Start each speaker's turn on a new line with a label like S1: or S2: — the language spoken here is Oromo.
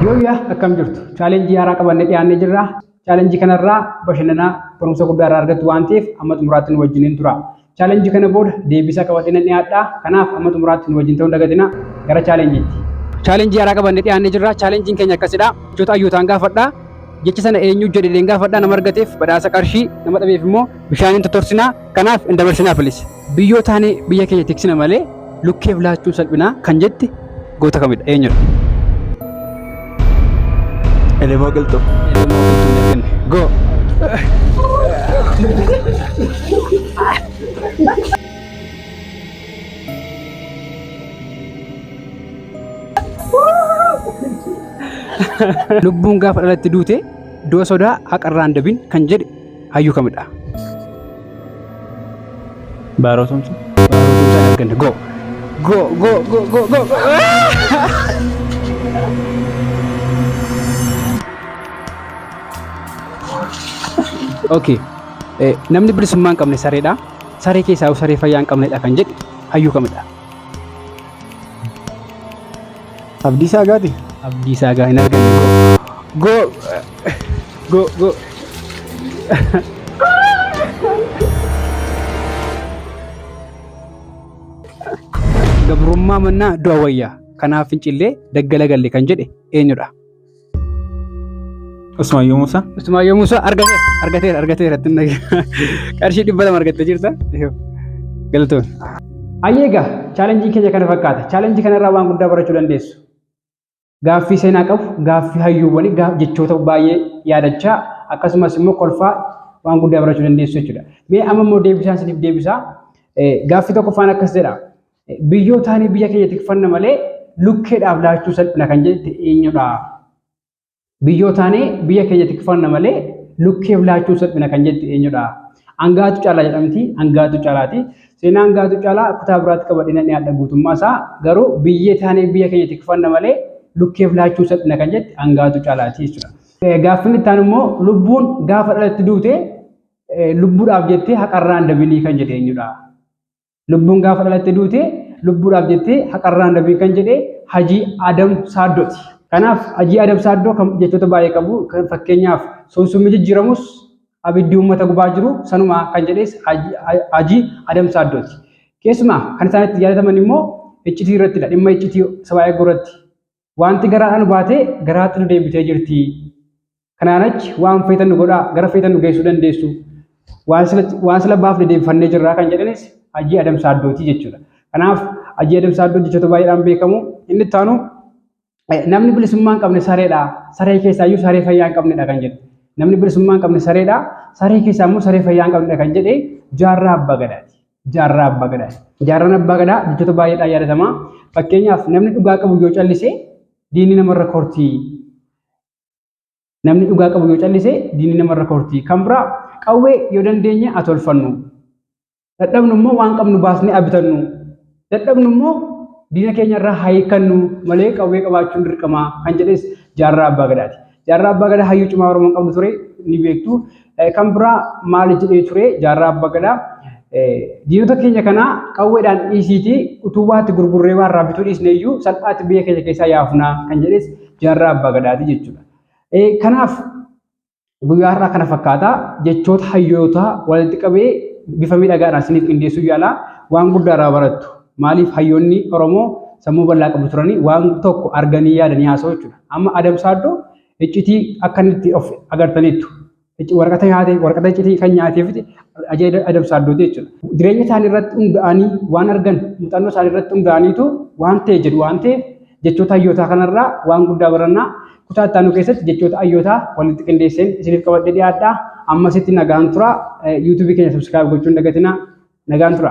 S1: Yooyyaa akkam jirtu chaalenjii haaraa qabannee dhiyaannee jirra. Chaalenjii kanarraa bashannanaa barumsa guddaa irraa argattu waan ta'eef amma xumuraatti nu wajjiniin tura. Chaalenjii kana booda deebisaa qabadhee nan dhiyaadha. Kanaaf amma xumuraatti nu wajjin ta'uu dagatina gara chaalenjiitti. Chaalenjii haaraa qabannee dhiyaannee jirra. Chaalenjiin keenya akkasidha. Jechoota hayyootaan gaafadha. Jecha sana eenyu jedheen gaafadha nama argateef badhaasa qarshii nama dhabeef immoo bishaaniin totorsina. Kanaaf hin dabarsinaa please. Biyyoo taanee biyya keenya tiksina malee lukkeef laachuun salphinaa kan jette goota kamidha? Eenyudha?
S2: Elemoo qilxuu. Elemoo qilxuu hin arganne.
S1: Go! Lubbuun gaafa dhalatti duute du'a sodaa haqarraan dabin kan jedhe hayyuu kamidha?
S2: Baaroo Tumsaa. Baaroo Tumsaa arganne. Go.
S1: Go go go go go. Okay. Eh, Namni bilisummaa hin qabne sareedha. Saree keessaa saree fayyaa hin qabnedha kan jedhe hayyuu kamidha?
S2: Abdiisaa Agaati? Abdiisaa Agaa hin
S1: argine. Go! Go! Go! Gabrummaa mannaa du'a wayya. Kanaaf fincillee daggala galle kan jedhe eenyudha?
S2: Usmaayyoo Muusaa. Usmaayyoo Muusaa argateera
S1: argateera argateera ittiin dhagaa qarshii dhibba lama argattee jirta. Galatoon. Ayyeegaa chaalenjii keenya kana fakkaata. Chaalenjii kanarraa waan guddaa barachuu dandeessu. Gaaffii seenaa qabu, gaaffii hayyuuwwanii, jechoota baay'ee yaadachaa akkasumas immoo kolfaa waan guddaa barachuu dandeessu jechuudha. Mee amma immoo deebisaan isiniif deebisaa. Gaaffii tokkoffaan akkas jedha. Biyyootaanii biyya keenya tikfanna malee lukkeedhaaf laachuu salphina kan jette eenyudha? Biyyootaanii biyya keenya tikfanna malee lukkeef laachuu salphina kan jette eenyudha? Angaatu caalaa jedhamti. Angaatu caalaati. Seenaa angaatu caalaa kutaa biraatti qabadhina dhiyaadha guutummaa isaa garuu biyyee taanee biyya keenya tikfanna malee lukkeef laachuu salphina kan jette angaatu caalaati jechuudha. Gaaffiin itti aanu immoo lubbuun gaafa dhalatti duute lubbuudhaaf jettee haqarraan dabinii kan jedhe eenyudha? Lubbuun gaafa dhalatte duute lubbuudhaaf jettee haqarraan nabiin kan jedhe hajii Adam Saaddooti. Kanaaf hajii Adam Saaddoo kan jechoota baay'ee qabu kan fakkeenyaaf sunsummi jijjiiramus abiddi uummata gubaa jiru sanuma kan jedhes hajii Adam Saaddooti. Keessumaa kan isaan itti yaadataman immoo iccitii irrattidha. Dhimma iccitii sabaa eeguu irratti Wanti garaadhaa nu baate garaatti nu deebitee jirti. Kanaan achi waan feetan nu godhaa gara feetan nu geessuu dandeessu. Waan sila waan sila baaf dedeebifannee jirraa kan jedhanis Hajii Adam Saaddooti jechuudha. Kanaaf Hajii Adam Saaddoo jechoota baay'eedhaan beekamu. Inni itti aanu namni bilisummaa hin qabne sareedha. Saree keessaa iyyuu saree fayyaa hin qabnedha kan jedhe. Namni bilisummaa hin qabne sareedha. Saree keessaa immoo saree fayyaa hin qabnedha kan jedhe jaarraa abbaa gadaati. Jaarraa Abbaa Gadaati. Jaarraan Abbaa Gadaa jechoota baay'eedhaan yaadatama. Fakkeenyaaf namni dhugaa qabu yoo callise diinni namarra kortii. Namni dhugaa qabu yoo callise diinni namarra kortii. Kan biraa qawwee yoo dandeenye haa tolfannu. Dadhabnu immoo waan qabnu baasnee haa bitannu. Dadhabnu immoo diina keenyarraa haa hiikkannu malee qawwee qabaachuun dirqamaa kan jedhes jaarraa Abbaa Gadaati. Jaarraa Abbaa Gadaa hayyuu cimaa Oromoon qabdu ture ni beektu. Kan biraa maal jedhee ture Jaarraa Abbaa Gadaa diinota keenya kanaa qawweedhaan dhiisiitii utuu waatti gurgurree waan raabbituu dhiisne iyyuu salphaatti biyya keenya keessaa yaafnaa kan jedhes Jaarraa Abbaa Gadaati jechuudha. Kanaaf guyyaa har'aa kana fakkaata jechoota hayyootaa walitti qabee bifa miidhagaadhaan isiniif qindeessuu yaalaa waan guddaa irraa barattu. Maaliif hayyoonni Oromoo sammuu bal'aa qabu turanii waan tokko arganii yaadanii haasa'u jechuudha. Amma Adam Saaddoo iccitii akka inni itti of agartaniittu. Icci- Waraqata nyaate, waraqata iccitii kan nyaateefiti ajaa'iba Adam Saaddooti jechuudha. Jireenya isaanii irratti hundaa'anii waan argan muuxannoo isaanii irratti hundaa'aniitu waan ta'e jedhu waan ta'eef jechoota hayyootaa kanarraa waan guddaa barannaa kutaa itti aanu keessatti jechoota hayyootaa walitti qindeesseen isiniif qabadhee dhiyaadhaa. Ammasitti nagaan tura. Yuutuubii keenya subscribe gochuun dagatinaa. Nagaan tura.